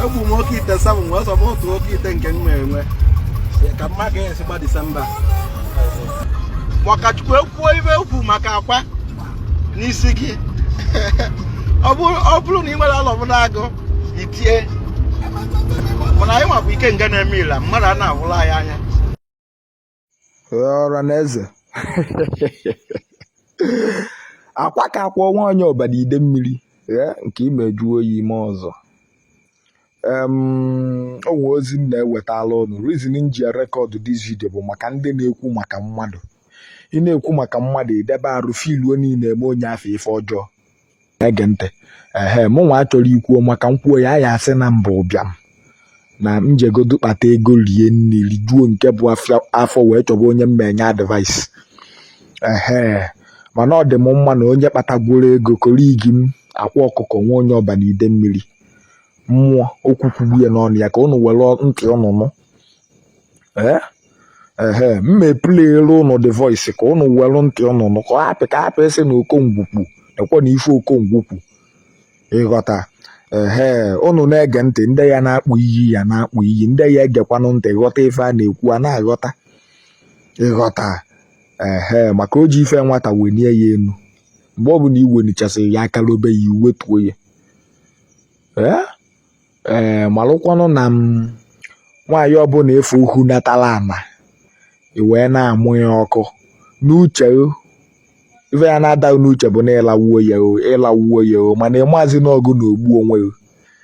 egwu m oke ite sabụ m wee sọba otu oke ite nke m enwe ka mma ga-esi gba December maka Chukwu ekwuo ibe okwu maka akwa n'isi gị ọ bụrụ na ị nwere alọbụnagụ itie mana anyị nwa bụ ikenga na-eme ila mmadụ a na-ahụla anyị anya ọra na eze akwa ka akwa nwa onye Ọba na Idemmiri ee, nke imeju oyi ime ọzọ Em, o nwee ozi m na-ewetala ụnụ reason m ji rekọdụ this video bụ maka ndị na-ekwu maka mmadụ ị na-ekwu maka mmadụ idebe arụ filuo niile eme onye afọ ife ọjọọ na-ege ntị ehe mụ nwa achọrọ ikwuo maka m kwuo ya a ya-asị na m bụ ụbịam na m jegodu kpata ego rie nri rijuo nke bụ afọ wee chọba onye m na-enye advice ehe mana ọ dị m mma na onye kpatagworo ego colleague m Akwa Ọkụkọ nwa onye Ọba na Idemmiri mmụọ okwu kwugbu ya n'ọnụ ya ka ụnụ were ntị ụnụ nụ ee ehe mme plere ụnụ the voice ka ụnụ welụ ntị ụnụ nụ ka ọ hapụ ka hapụ ịsị na Okongwu kwu ekwe na ife Okongwu kwu ịghọta ehe ụnụ na-ege ntị ndị ya na-akpọ iyi ya na-akpọ iyi ndị ya egekwanụ ntị ghọta ife a na-ekwu a na-aghọta ịghọta ehe maka o ji ife nwata wenie ya enu mgbe ọbụna iwenichasịrị ya aka lobe ya iwetuo ya ee ee eh, malụkwanụ na nwaanyị ọbụna efu ukwu natala ana i wee na-amụ ya ọkụ n'uche ife ya na-adị gị n'uche bụ na ịlawuo ya o ịlawuo ya o mana ịmazi na ọ gị na-egbu onwe gị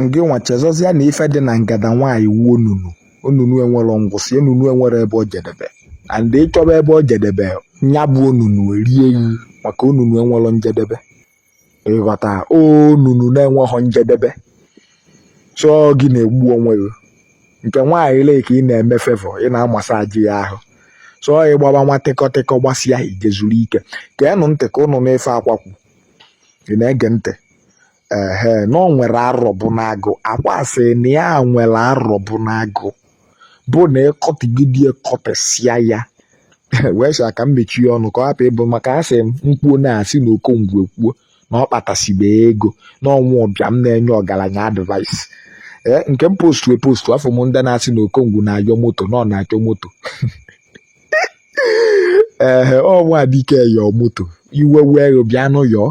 ngị nwa chezọzịa na ife dị na ngada nwaanyị wụ onunu onunu enwerọ ngwụsị onunu enwerọ ebe o jedebe and ịchọba ebe o jedebe nya bụ onunu erie gị maka onunu enwerọ njedebe ịghọta onunu na-enweghị njedebe so gị na-egbu onwe gị nke nwaanyị lee ka ị na-eme favour ị na-amasaji ya ahụ so ị gbaba nwa tịkọtịkọ gbasịa i je zuru ike geenụ ntị ka ụnụ nụ ife Akwa kwu ị na-ege ntị ehe na ọ nwere arọbụnagụ Akwa sị na ya nwere arọbụnagụ bụ na ịkọtụgide ya kọtesịa ya wee sị ka m mechie ọnụ ka ọ hapụ ịbụ maka a sị m kwuo a na-asị na Okongwu ekwuo na ọ kpatasibe ego na ọ nwa ụbịam na-enye ọgaranya advice ee nke m postu epostu afụ m ndị na-asị na Okongwu na-ayọ moto na ọ na-achọ moto ee ọ nwa dike yọọ moto iwe wee bịanụ yọọ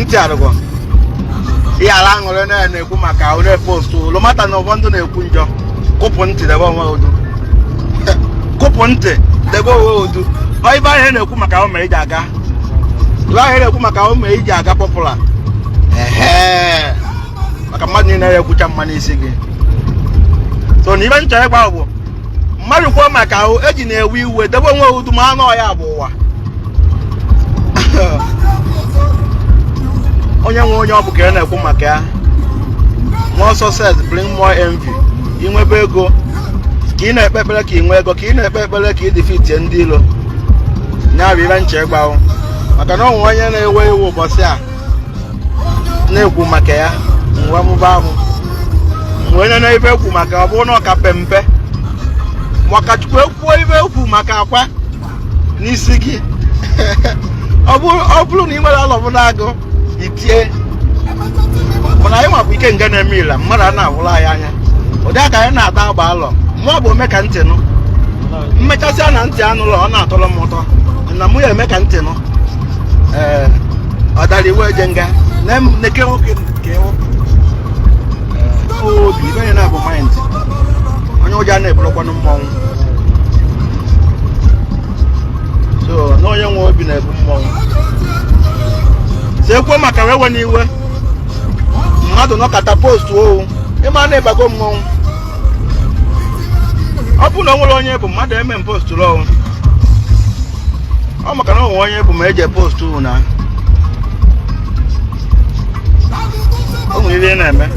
ntị arụgọ ihe ala aṅụrị na na-ekwu maka onye postu no matter na ụfọdụ na-ekwu njọ kụpụ ntị debe onwe duu kụpụ ntị debe onwe duu ọ ive ahụ na-ekwu maka ụmụ iji aga ive ahụ na-ekwu maka ụmụ iji aga popular ehe maka mmadụ niile ya ekwucha mma n'isi gị so na ive m chọ ịgwa bụ mmadụ kwuo maka ahụ ejina ewe iwe debe onwe duu mana ọ ya bụ ụwa onye nwe onye ọ bụ ka a na-ekwu maka ya more success bring more envy ị nwebe ego ka ị na-ekpe ekpere ka ị nwee ego ka ị na-ekpe ekpere ka ị defeatie ndị ilo ya bụ ive m chọ ịgwa ụ maka na ọ nwe onye na-ewe iwe ụbọchị a na-ekwu maka ya mgbe mụba ahụ nwanne na ife ekwu maka ọ bụrụ na ọ ka pe mpe maka Chukwu ekwuo ife ekwu maka akwa n'isi gị ọ bụrụ na ị nwere alọbụ na-agụ itie mana anyị nwa bụ ikenga na-eme ile mmadụ a na-ahụla anyị anya ụdị aka anyị na-ata agba alọ mụ bụ ome ka ntị nụ m mechasịa na ntị anụlọ ọ na-atọrọ m ụtọ na mụ ya eme ka ntị nụ ee ọ dara iwe eje nga na em- neke nwoke nke nwoke obi ive onye na-abụ mind onye ụjọ a na-ebulọkwanụ mmọnwụ so na onye nwe obi na-ebu mmọnwụ so ekwuo maka ụ ewena iwe mmadụ nọkata postuo ụ ị ma na ị bago mmọnwụ ọ bụrụ na o nwere onye bụ mmadụ eme m postu lọwụ ọ maka na o nwe onye bụ ma eji post unu na o nwere ihe na-eme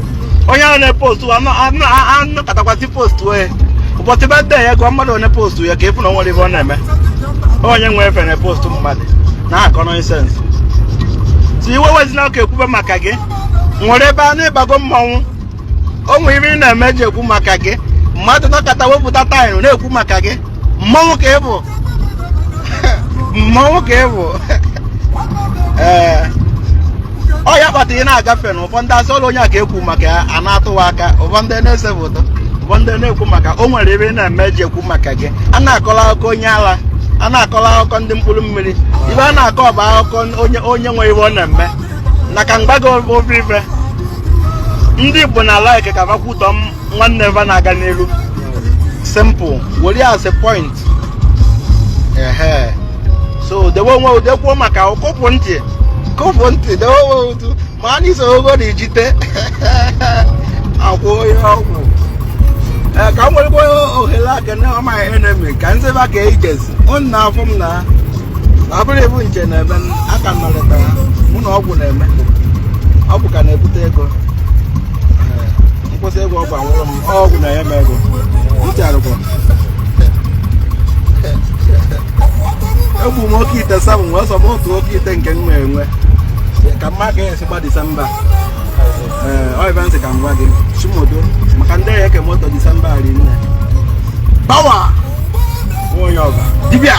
onye ahụ na-epostu a nọkatakwa sị postu onye ụbọchị birthday ya gụọ mmadụ one postu ya ka ị fụ na o nwere ive ọ na-eme onye nwe efe na postu mmadụ na-akọ nonsense so iwe ewezina ka ekwube maka gị nwere ebe a na ị bago mmanwụ o nwere ive ị na-eme ji ekwu maka gị mmadụ nọkata wepụta time na-ekwu maka gị mmọnwụ ka ị bụ mmọnwụ ka ị bụ ee ọ ya kpata ị na-agafe na ụfọdụ asị ọrọ onye a ka ekwu maka ya a na-atụwa aka ụfọdụ na-ese foto ụfọdụ na-ekwu maka o nwere ive ị na-eme ji ekwu maka gị a na-akọrọ akụkọ onye ala a na-akọrọ akụkọ ndị mkpụrụ mmiri ive a na-akọ bụ akụkọ onye onye nwe ive ọ na-eme na aka mgbago ọ bụ ife ndị igbo na like ka va kwutọ nwanne va na-aga n'elu simple were ya as a point ehe so dewe onwe duu ekwuo maka ụ kụpụ ntị kụpụ ntị dewe onwe duu ma a n'iso ogo na ijite akwụ onye ọgwụ ka m nwere ohere aka ọma ihe na-eme ka nzeba ka ejezi ụnụ na-afụ m na ọ bụrụ ịbụ nche na-eme aka nọrịta mụ na ọgwụ na-eme ọgwụ ka na-ebute ego m kwụsị ịgwọ ọgwụ anwụrụ m ọgwụ na-enye m ego uche arụkwa egbu m oke ite seven wee sọ m otu oke ite nke m na-enwe ka m ma ka esi gba disemba m sị ka m gwa gị chimodo maka ndị ya eke moto disemba ari nne pawa onye ọba dibịa